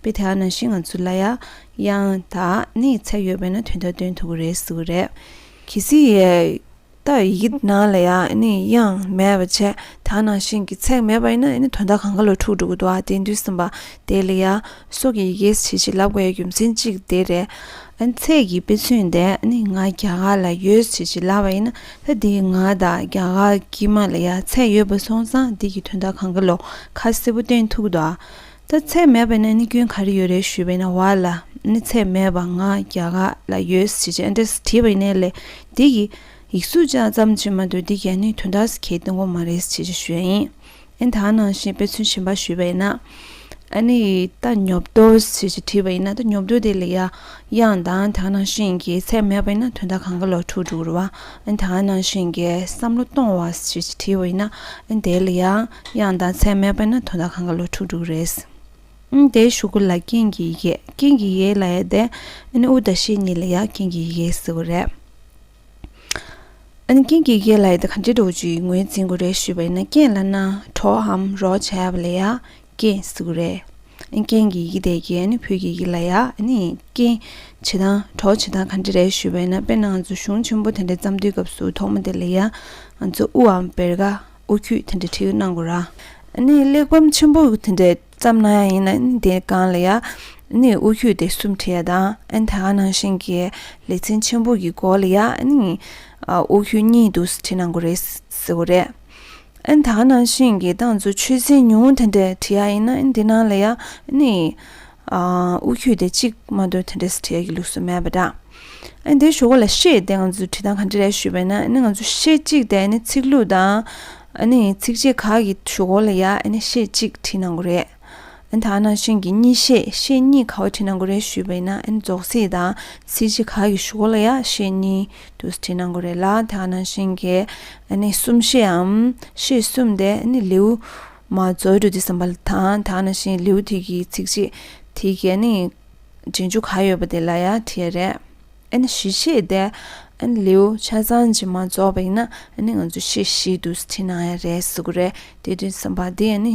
པའི་དེ་ཨ་ན་ཤི་ང་ཚོ་ལ་ཡ་ཡང་དག་ནི་ཚད་ཡོད་པས་ན་དོན་དག་སྟོན་ཐུབ་ཀྱི་རེད་ཟེར་བ་རེད། གལ་སྲིད་ཡ་ད་ཡི་གི་ན་ལ་ཡ་ནི་ཡང་མེད་པ་བྱས་དེ་ཨ་ན་ཤི་གི་ཚད་མེད་པ་ཡིན་ན་ཡ་ནི་དོན་དག་གང་ག་ལ་འཁྲུག་འགྲོ་གི་འདུག་ཨ་དེ་འདུས་སེམས་པ་དེ་ལ་ཡ་སྲོག་གི་ཡི་གེ་ཞེས་ཞིག་ལབ་དགོས་ཡ་རྒྱུ་མཚན་གཅིག་དེ་རེད། ཚད་ཀྱི་དཔེ་མཚོན་དེ་ནི་ང་རྒྱ་གར་ལ་ཡོད་ཞེས་ཞིག་ལབ་པ་ཡིན་ན་ད་དེ་ང་དང་རྒྱ་གར་གྱི་མ་ལ་ཡ་ཚད་ཡོད་པ་སོང་ཙང་དེ་གི་དོན་དག་གང་ག་ལ་ཁ་གསལ་པོ་སྟོན་ཐུབ་ཀྱི་འདུག་ཨ། ད་ཚད་མེད་པ་ནི་ནི་སྐྱོན་ག་རེ་ཡོད་རེད་ཞུས་པའི་ནི་བ་ལ་ནི་ཚད་མེད་པ་ང་རྒྱ་ག་ལ་ཡོད་ཟེར་ཅི་ཨནྟེ་ཟེར་དྲིས་པ་ནི་ལས་འདི་ཡི་ཡིག་གཟུགས་ཅག་ཙམ་གྱིས་མ་འདོད་འདི་རྒྱ་ནི་དོན་དག་ཟེར་གྱི་འདི་མགོ་མ་རེད་ཟེར་ཅི་ཞུས་ཨིན་ཨན་ད་ནང་བཞིན་དཔེ་མཚོན་བྱིན་པ་ཞུས་པ་ཡིན་ན་ཨ་ནི་ད་ཉོབ་ཏོ་ཟེར་ཅི་དྲིས་པ་ཡིན་ན་ད་ཉོབ་ཏོ་དེ་ལས་ཡག་དབྱངས་དང་དག་སྣང་ཞིང་གི་ཚད་མེད་པ་ཡིན་ན་དོན་དག་གང་གི་ལོག་འཁྲུལ་འགྲུབ་རུང་བ་དག་སྣང་ཞིང་གི་བསམ་བློ་གཏོང་བ་ཞེས་བྲིས་པ་ཡིན་ན་དེ་ལ་ཡང་དབྱངས་དང་ཚད་མེད་པ་ཡིན་ན་དོན་དག་གང་གི་ལོག་འཁྲུལ་འགྲུབ་རེད། དེའི་གཞུག་གུ་ལ་རྐྱེན་གྱི་ཡི་གེ་རྐྱེན་གྱི་ཡི་གེ་ལ་ཡ་དེ། ཨུ་དང་ཤེས་གཉིས་ལ་ཡང་རྐྱེན་གྱི་ཡི་གེ་ཟེར་བ་རེད། རྐྱེན་གྱི་ཡི་གེ་ལ་ཡ་དེ་གང་འདྲའི་འགྲོ་བ་བཅུའི་ངོས་འཛིན་དགོས་རེད་ཞུས་པ་ཡིན་ན་རྐྱེན་ལ་ན་གྲོའམ་རོ་བྱ་བ་ལ་ཡ་ཀྱི་གཟུགས་རེད། རྐྱེན་གྱི་ཡི་གེ་དེ་ཀྱི་བོད་ཀྱི་ཡི་ལ་ཡ། རྐྱེན་བྱེད་སྟངས་གྲོགས་བྱེད་སྟངས་ག་འདྲ་རེད་ཞུས་པས་ན་དཔེར་ན་ང་ཚོ་གཞུང་ཆེན་པོ་དེ་འདྲ་བརྩམས་དུས་སྐབས་སུ་ཐོག་མ་དེ་ལ་ཡ་ང་ཚོ་དབུའམ་བེར་ག་དབུ་ཁྱུད་དེ་འདྲ་བྲིས་གནང་དགོས་ར། གླེགས་བམ་ཆེན་པོ་དེ་འདྲ་བརྩམས་ན་ཡང་ཡིན་ན་དེ་གང་ལ་ཡ། དབུ་ཁྱུད་དེ་གསུམ་བྲིས་ཡ་དང་ད་ག་ནང་བཞིན་གྱི་ལེ་ཚན་ཆེན་པོ་གི་མགོ་ལ་ཡ། དབུ་ཁྱུད་གཉིས་དུ་བྲིས་གནང་དགོས་རེད་ཟེར་བ་རེད། ཨན་ད་ནང་བཞིན་གྱི་ཏང་ཙུའི་ཆོད་སེམས་ཉུང་ངུ་དེ་འདྲས་བྲིས་ཡ་ཡིན་ན་འདི་ནང་ལ་ཡ་ནི་དབུ་ཁྱུད་དེ་གཅིག་མ་འདོད་དེ་འདྲས་བྲིས་ཡ་གི་ལུགས་སུ་མེད་པ་འདྲ། ཨན་དེ་ཞོག་གོ་ལ་ཤེས་དེ་ང་ཚོས་བྲིས་སྟངས་ག་འདྲས་རེད་ཞུས་པ་ན་ཨན་ང་ཚོ་ཤེས་གཅིག་དེ་ཨན་ཚིག་ལྷུག་དང་ཨན་ཚིག་བཅད་ཁག་གི་ཞོག་གོ་ལ་ཡ་ཨན་ཤེས་གཅིག་བྲིས་གནང་གོ་རེད། ཨན་ཐ་ན་ཤིང་གི་གཉིས་ཤེས་ཤེས་གཉིས་ག་བ་བྲིས་ན་འགོ་རེད་ཞུས་པ་ཡིན་ན་ཨན་རྫོགས་ཚིག་དང་ཚིག་གཅིག་ག་གི་ཞུ་གོ་ལ་ཡ་ཤེས་གཉིས་དུ་བྲིས་ན་འགོ་རེད་ལ་ཨན་ཐ་ན་ཤིང་གི་ཨན་ནི་གསུམ་ཤེས་འམ་ཤེས་གསུམ་དེ་ཨན་ནི་ལེའུ་མ་རྫོགས་འགྲོ་དེ་བསམ་པ་དང་ཨན་ཐ་ན་ཤིང་ལེའུ་དེ་གི་ཚིག་གཅིག་དེ་གི་ཨན་ནི་འབྲི་འཇུག་ག་ཡོད་པ་དེ་ལ་ཡ་བྲིས་ཡ་རེད་ཨན་ནི་བཞི་ཤེས་དེ་ཨན་ནི་ལེའུ་ཆ་ཚང་གཅིག་མ་རྫོགས་པ་ཡིན་ན་ཨན་ནི་ང་ཚོ་ཤེས་བཞི་དུ་བྲིས་ན་ཡ་རེད་ཟེར་གོ་རེད་དེ་དུས་བསམ་པ་དེ་ཨན་ནི་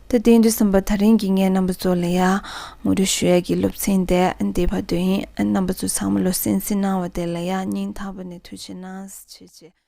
དེ་རྟེན་འབྲེལ་གསུམ་པ་ཐག་རིང་གི་ངའི་རྣམ་པ་ཚོ་ལ་ཡང་ངོ་སྤྲོད་ཞུ་ཡ་གི་སློབ་ཚན་དེ་འདི་བར་དོ་ཡིན་རྣམ་པ་ཚོ་ཚང་མ་བློ་སེང་སེང་གནང་བ་དེ་ལ་ཡང་སྙིང་ཐག་པ་ནས་ཐུགས་ཆེ་གནང་བྱེད་ཅེས།